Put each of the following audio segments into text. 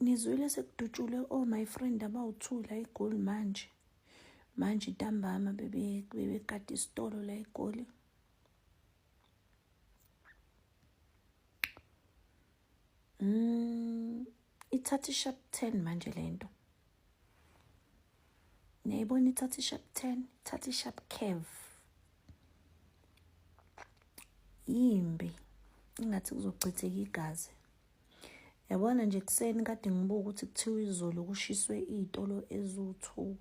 ngizwile sekudutshulwe o oh, my friend abawu-two la egoli manje manje ntambama bebekade isitolo la egoli Mm, ithatha ishap 10 manje lento. Niyayibona ithatha ishap 10, ithatha ishap curve. Yimbi. Ingathi kuzochitheka igazi. Yabona nje kuseni kade ngibuka ukuthi kuthiwa izolo kushiswe izitolo ezu2.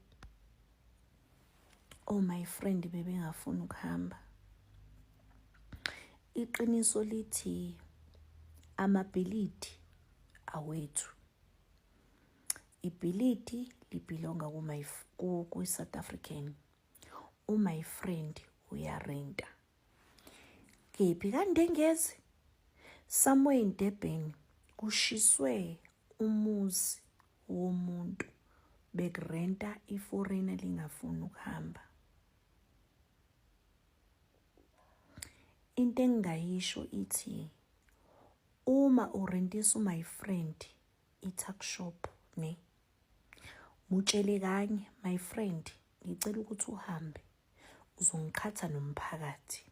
oh my friend bebengafuni ukuhamba iqiniso lithi amabhilidi awethu ibhilidi libhilonga kwi-south african umy friend uyarenta kephi kandengezi somewhere in durban kushiswe umuzi womuntu bekurenta iforeign elingafuni ukuhamba into engingayisho ithi uma urentisa my friend i-tuck shop ne mutshele kanye my friend ngicela ukuthi uhambe uzongiqhatha nomphakathi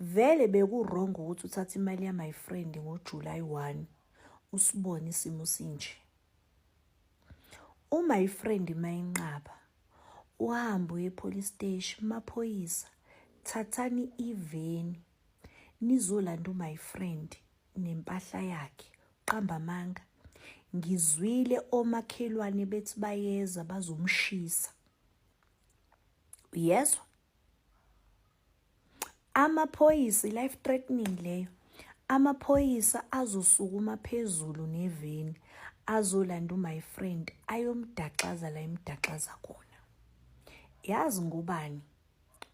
Vele beku-wrong ukuthi uthathe imali ya-my friend ngoJulayi 1 usibone isimo sinje. Uma ifriend mayinqaba uhambe uye epolice steshi maphoyisa thathani iveni nizolanda umy friend nempahla yakhe qamba amanga ngizwile omakhelwane bethi bayeza bazomshisa uyezwa Amaphoyisa life threatening leyo. Amaphoyisa azosukuma phezulu neveni azolanda umy friend ayomdaxaza la imdaxaza khona. Yazi ngobani?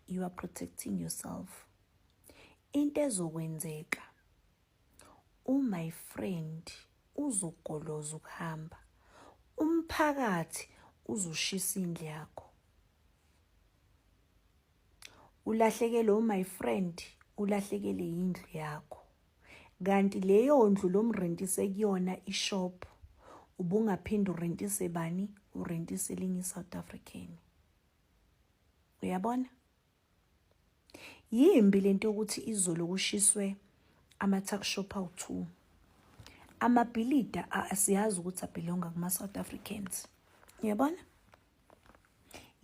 You are protecting yourself. Into ezokwenzeka umy friend uzogoloza ukuhamba umphakathi uzoshisa indlu yakho ulahlekele umy friend ulahlekele yindlu yakho kanti leyo ndlu lomrentise kuyona ishop ubungaphinde urentise bani urentise linye iSouth African uyabona Yimbi lento yokuthi izolo kushiswe ama-tuck shop awu-two. Amabhilida asiyazi ukuthi abhilonga kuma-South Africans. Uyabona?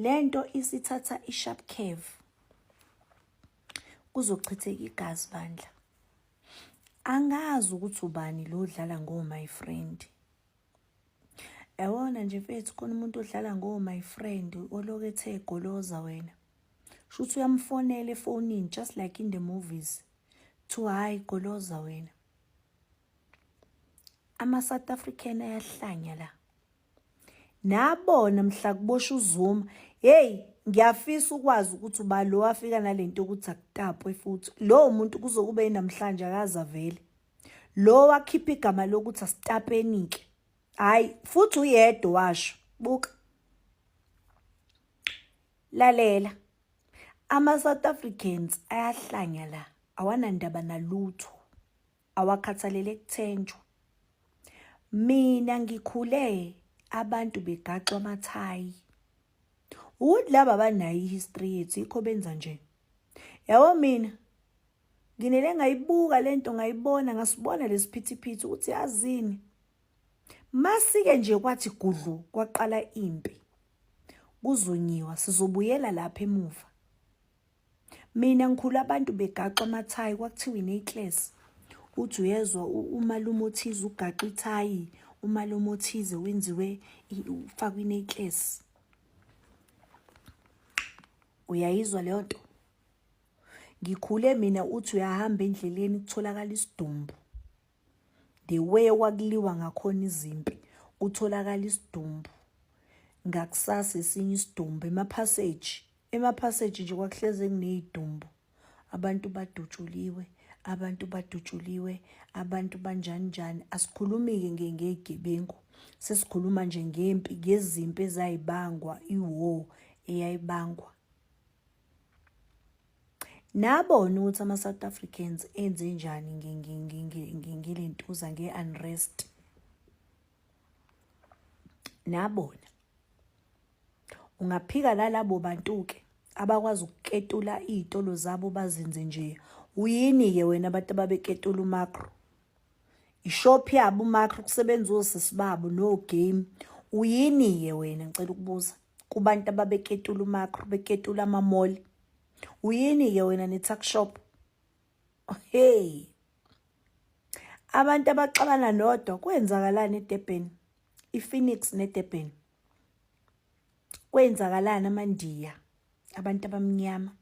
Le nto isithatha i-sharp curve. Kuzochitheka igazi bandla. Angazi ukuthi ubani lo dlala ngo my friend. Yawona nje mfethu khona umuntu odlala ngo my friend oloke ethe goloza wena. Shuthi uyamfonela efonini just like in the movies. To hayi goloza wena. Ama South African ayahlanya la. Nabona mhla kubosha uZuma. Hey, ngiyafisa ukwazi ukuthi uba lo afika nalento ukuthi akutapwe futhi. Lo muntu kuzokube namhlanje akaza vele. Lo wakhipha igama lokuthi asitapenike. Hayi, futhi uyedwa washo. Buka. Lalela. Ama South Africans ayahlanya la. Awanandaba nalutho. Awakhathalele kuthenjwa. Mina ngikhule abantu begaxwa amathayi. Ukuthi laba banayo history yethu ikho benza nje. Yawo mina Nginele ngayibuka lento ngayibona ngasibona lesiphithiphithi ukuthi yazini. Masike nje kwathi gudlu kwaqala impi. Kuzonyiwa sizobuyela lapha emuva. Mina ngikhulu abantu begaxa amathayi kwakuthiwa ineclass. Uthi uyezwa umalume othize ugaxa ithayi, umalume othize wenziwe ufakwe ineclass. Uyayizwa leyo nto? ngikhule mina uthi uyahamba endleleni kutholakala isidumbu the way kwakuliwa ngakhona izimpi kutholakala isidumbu ngakusasa esinye isidumbu emaphaseji emaphaseji nje kwakuhleze kuneyidumbu abantu badutshuliwe abantu badutshuliwe abantu banjani njani asikhulumi-ke nge ngeyigebengu sesikhuluma nje ngempi ngezimpi ezayibangwa iwar eyayibangwa Nabona ukuthi ama-South Africans enze njani ngile ntuza nge-unrest. Nabona. Ungaphika lalabo bantu-ke abakwazi ukuketula iy'tolo zabo bazenze nje. Uyini-ke wena abantu ababeketula umakro? Ishop yabo umakro kusebenza osisi babo no-game. Uyini-ke wena ngicela ukubuza? kubantu ababeketula umakro beketula amamoli uyini-ke wena ne-tuck shop hey abantu abaxabana nodwa kwenzakalani edurban iphoenix nedurban kwenzakalani amandiya abantu abamnyama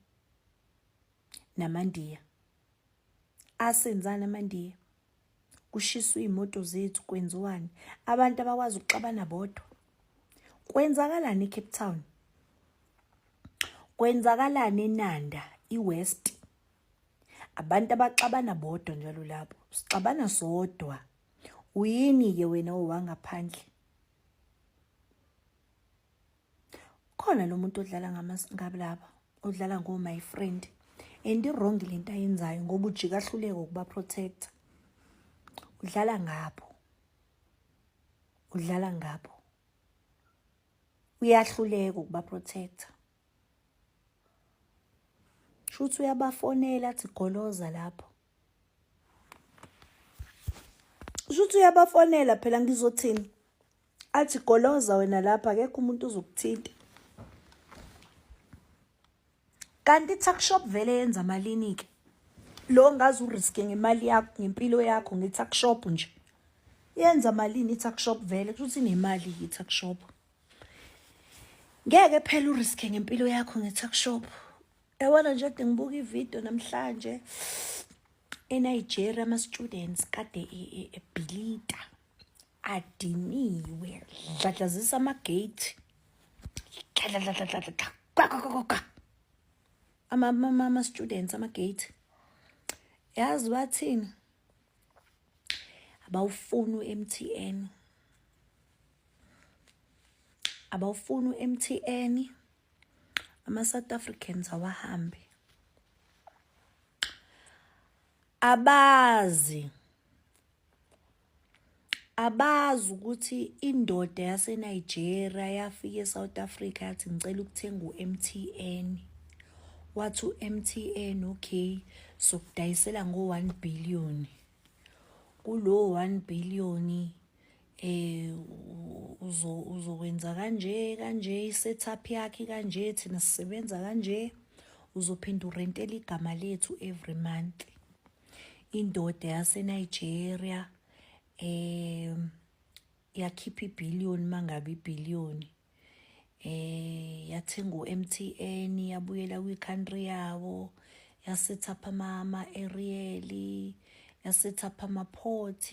namandiya asenzani amandiya kushiswa iy'moto zethu kwenziwani abantu abakwazi ukuxabana bodwa kwenzakalani ecape town kwenzakalani enanda iwest abantu abaxabana bodwa njalo lapho sixabana sodwa uyini-ke wena owangaphandle khona lo muntu odlala ngabalaba odlala ngo my friend and i-wrong le nto ayenzayo ngoba ujika ahluleka ukuba protector udlala ngabo udlala ngabo uyahluleka ukuba protector shuthi uyabafonela athi goloza lapho shuthi uyabafonela phela ngizothini athi goloza wena lapha akekho umuntu uzokuthinta kanti i-tuck shop vele yenza malini ke lo ngazi uriske ngemali yakho ngempilo yakho nge-tuck shop nje yenza malini i-tuck shop vele kushuthi nemali i-tuck shop ngeke phela uriske ngempilo yakho nge-tuck shop yabona nje kade ngibuka ividiyo namhlanje enigeria ama-students kade ebhilita e, e, adiniwe dladlazisa amagate dladladladladladla kwakwakwakwa ama-students amagate yazi bathini abawufuni u-m t n abawufuni u-m t n ama-south africans awahambe abazi abazi ukuthi indoda yaseNigeria yafika eSouth Africa yathi ngicela ukuthenga u-MTN wathi u-MTN okay sokudayisela ngo-1 billion kulo 1 billion eh uzo uzokwenza kanje kanje i-setup yakhe kanje thina sisebenza kanje uzophinda urentela igama lethu every month indoda yaseNigeria eh yakhipha ibillion mangabe ibillion eh yathenga uMTN yabuyela kwi country yawo yasetha phama ama aerial yasetha phama port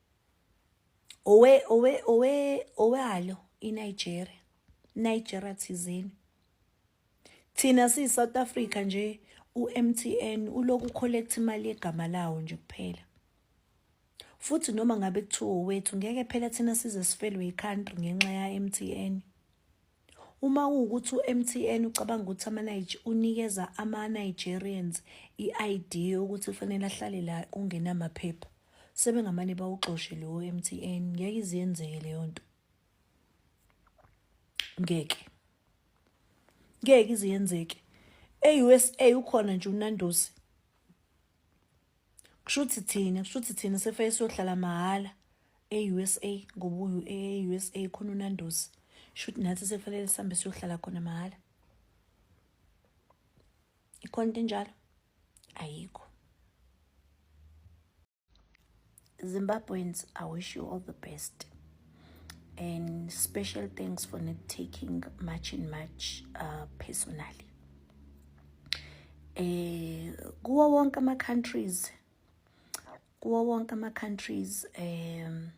owe owe owe owalo iNigeria Nigeria thizeni thina siyi South Africa nje uMTN uloku collect imali yegama lawo nje kuphela futhi noma ngabe kuthiwa wethu ngeke phela thina size sifelwe i-country ngenxa ya-MTN Uma kuwukuthi uMTN ucabanga ukuthi ama-Nige unikeza ama-Nigerians i-ID yokuthi kufanele ahlale la kungenamaphepha, sebengamane bawuxoshe lowo MTN. Ngeke iziyenzeke leyo nto. Ngeke. Ngeke iziyenzeke. E-USA ukhona nje uNandosi. kushuthi thina kushuthi thina sefake siyohlala mahhala e-usa ngoba uyu-e-usa khona unandosi shuthi nathi sekufanele sihambe siyohlala khona mahhala ikhona into enjalo ayikho zimbabweans i wish you all the best and special thanks for not taking much in much uh, personally eh kuwo wonke ama countries kuwo wonke ama countries um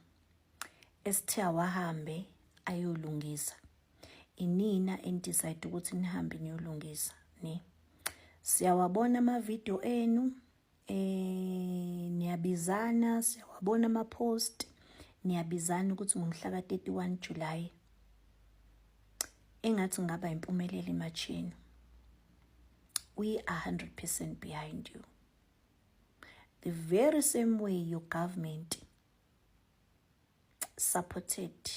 esithiya wahambe ayolungisa inina enidecide ukuthi nihambe niyolungisa ne siyawabona ama video enu eh niyabizana siyawabona ama post niyabizana ukuthi ngomhla ka 31 July engathi ngaba impumelelo imachini we are 100% behind you the very same way your government supported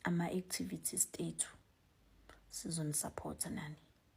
ama activities tethu sizonisupport nani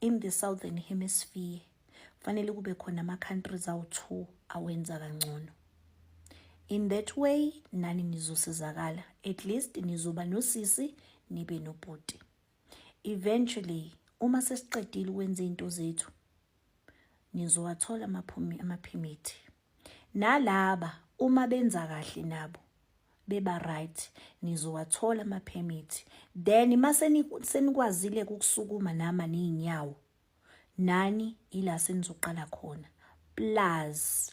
in the southern hemisphere kufanele kube khona ama-countries awu-two awenza kangcono in that way nani nizosizakala at least nizoba nosisi nibe nobhuti eventually uma sesiqedile ukwenza izinto zethu nizowathola amaphimithi Nalaba uma benza kahle nabo beba right nizowathola ama permit then mase senikwazile ukusukuma nama nezinyawo nani ila senizoqala khona plus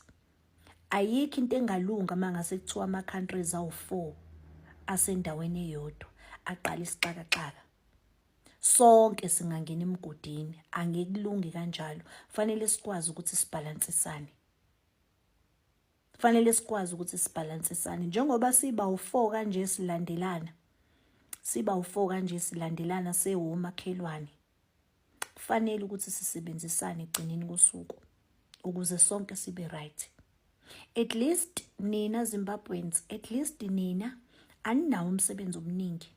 ayikho into engalunga mangase kuthiwa ama countries awu4 asendaweni eyodwa aqala isixakaxaka sonke singangena emgodini angekulungi kanjalo fanele sikwazi ukuthi sibhalansisane fanele sikwazi ukuthi sibhalansisane njengoba siba u4 kanje silandelana siba u4 kanje silandelana sewomakhelwane fanele ukuthi sisebenzisane egcineni kosuku ukuze sonke sibe right at least nina Zimbabweans at least nina aninawo umsebenzi omningi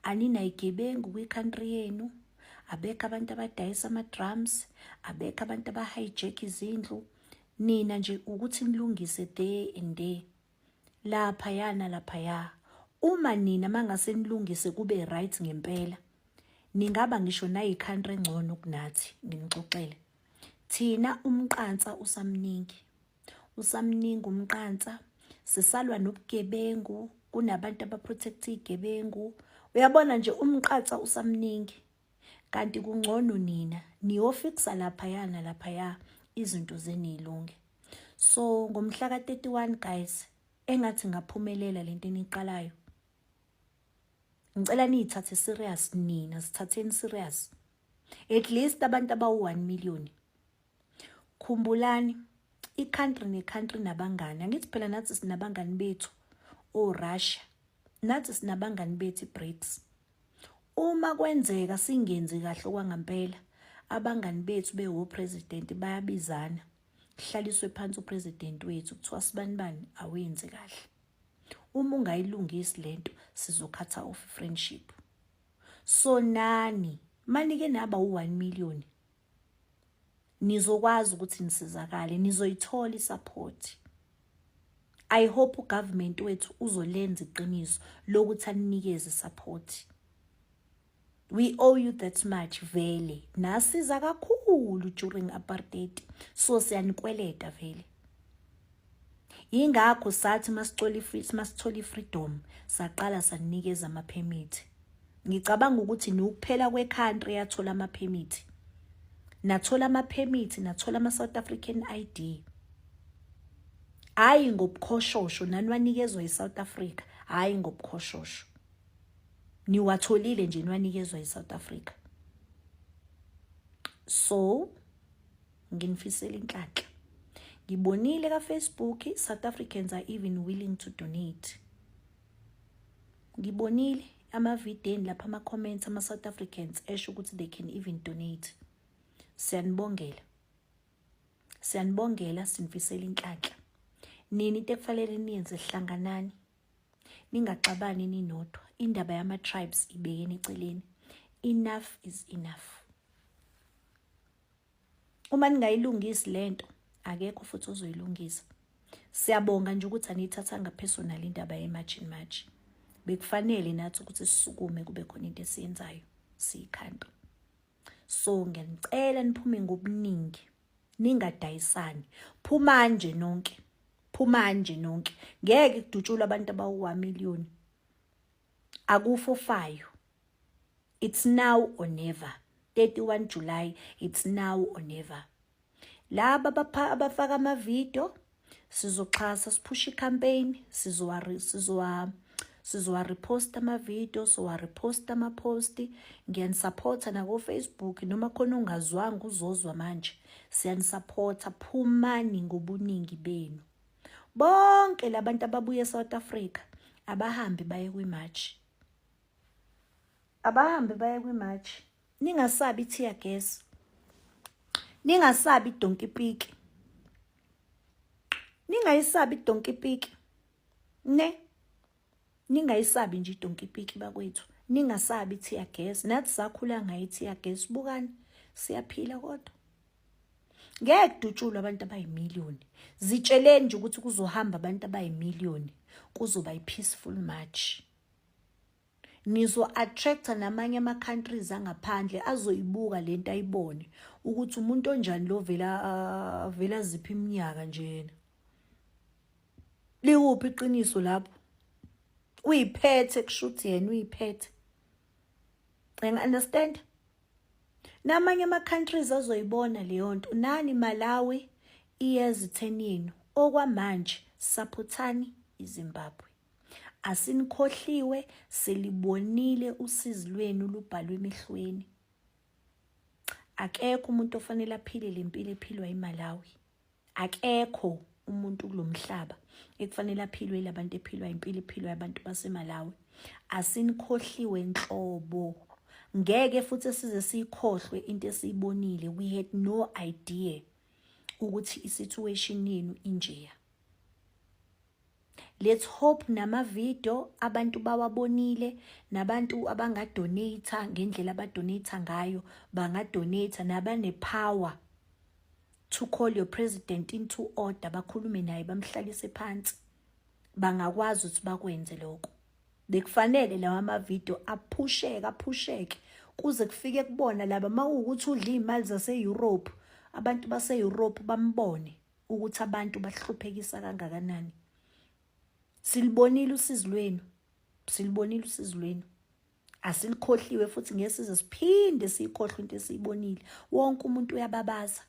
aninayigebengu kwi-country yenu abekho abantu abadayisa ama-drums abekho abantu abahijack izindlu nina nje ukuthi nilungise day and day laphaya nalaphaya uma nina mangase nilungise kube right ngempela ningaba ngisho nayi-country engcono kunathi nginixoxele thina umqansa usamningi usamningi umqansa sisalwa nobugebengu kunabantu abaprotect igebengu uyabona nje umqatsa usamningi kanti kungcono nina niyofixa lapha yana lapha ya izinto zenilunge so ngomhla ka31 guys engathi ngaphumelela lento eniqalayo ngicela niyithathe serious nina sithatheni serious at least abantu abawu 1 million khumbulani i-country ne-country nabangani angithi phela nathi sinabangani bethu orussia nathi sinabangani bethu i-brics uma kwenzeka singenzi kahle okwangampela abangani bethu bewopresidenti bayabizana kuhlaliswe phansi upresidenti wethu kuthiwa sibani bani awenzi kahle uma ungayilungisi lento sizokhatha off friendship so nani manike naba u-1 million nizokwazi ukuthi nisizakale nizoyithola isaphothi i hope ugovernment wethu uzolenza iqiniso lokuthi aninikeze support we owe you that much vele nasiza kakhulu during apartheid so siyanikweleta vele Yingakho sathi masithola masithola ifreedom saqala sanikeza ama permit. Ngicabanga ukuthi nokuphela kwe country yathola ama permit. Nathola ama permit, nathola ama South African ID. Hayi ngobukhoshosho nanwanikezwa iSouth Africa, hayi ngobukhoshosho. Niwatholile nje nwanikezwa iSouth Africa. So nginifisela inhlanhla ngibonile ka Facebook South Africans are even willing to donate ngibonile amavideni lapha ama comments ama South Africans esho ukuthi they can even donate siyanibongela siyanibongela sinifisela inhlanhla nini into ekufanele niyenze hlanganani ningaxabani ninodwa indaba yama tribes ibekeni eceleni enough is enough uma ningayilungisi lento akekho futhi ozoyilungisa siyabonga nje ukuthi aniyithathanga personal indaba yemarch in march bekufanele nathi ukuthi sisukume kube khona into esiyenzayo siyikhanda so ngiyanicela niphume ngobuningi ningadayisani phuma nje nonke phuma nje nonke ngeke kudutshulwa abantu abawu-1 million akufofayo It's now or never. 31 July, it's now or never. Laba abafaka amavidiyo sizoxhasa siphusha i-campaign sizowa sizowareposta amavidiyo sizowareposta amaposti ngiyanisapotha nakofacebook noma khona ongazwanga uzozwa manje siyanisapotha phumani ngobuningi benu bonke labantu ababuye eSouth Africa abahambi baye kwimarch abahambe baye kwimatch ningasabi tear gas ningasabi donkey pick ningayisabi donkey pick ne ningayisabi nje donkey pick bakwethu ningasabi tear gas nathi sakhula ngayi tear gas bukani siyaphila kodwa ngeke kudutshulwe abantu abayimiliyoni zitsheleni nje ukuthi kuzohamba abantu abayimiliyoni kuzoba i-peaceful march nizo-attractor namanye ama-countries angaphandle azoyibuka le nto ayibone ukuthi umuntu onjani lo vele avele aziphi iminyaka njena liwuphi iqiniso lapho uyiphethe kushuthi yena uyiphethe ngi-understand namanye ama-countries azoyibona leyo nto nani malawi iyeza itheni yenu okwamanje saphothani izimbabwe Asinikhohliwe silibonile usizi lwenu lubhalwe emehlweni. Akekho umuntu ofanele aphile lempilo ephilwa iMalawi. Akekho umuntu kulomhlaba ekufanele aphilwe labantu ephilwa impilo ephilwa abantu baseMalawi. Asinikhohliwe nhlobo. Ngeke futhi size sikhohlwe into esiyibonile. We had no idea ukuthi i situation yenu injeya. Let's hope namavidio abantu bawabonile nabantu abangadonate ngendlela abadonate ngayo bangadonate nabanepower to call your president into order bakhulume naye bamhlalise phansi bangakwazi ukuthi bakwenze lokho bekufanele lawa amavidio aphusheke aphusheke kuze kufike kubona laba mawukuthi udla imali zase-Europe abantu base-Europe bambone ukuthi abantu bahluphekisa kangakanani silibonile usizi lwenu silibonile usizi lwenu asilikhohliwe futhi ngesize siphinde siyikhohlwe into esiyibonile wonke umuntu uyababaza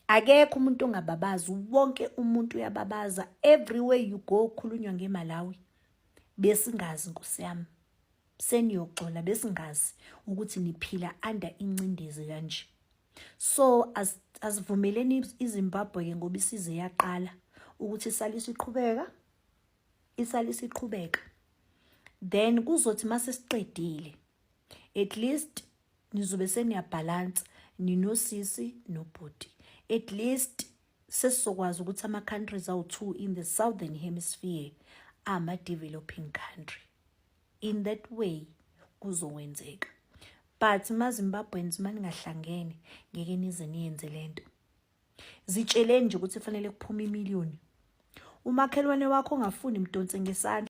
akekho umuntu ongababazi wonke umuntu uyababaza everywhere you go khulunywa ngemalawi besingazi nkosi yami seniyoxola besingazi ukuthi niphila under incindezi kanje so asivumeleni izimbabwe ke ngoba isize yaqala ukuthi isale isiqhubeka isale isiqhubeka then kuzothi mase siqedile at least nizobe seniyabhalansa ninosisi nobhuti at least sesizokwazi ukuthi ama-countries awu-two in the southern hemisphere ama-developing country in that way kuzokwenzeka but mazimbabweans maningahlangene ngeke nize niyenze lento zitsheleni nje ukuthi kufanele kuphume imiliyoni umakhelwane wakho ongafuni mdonse ngesandla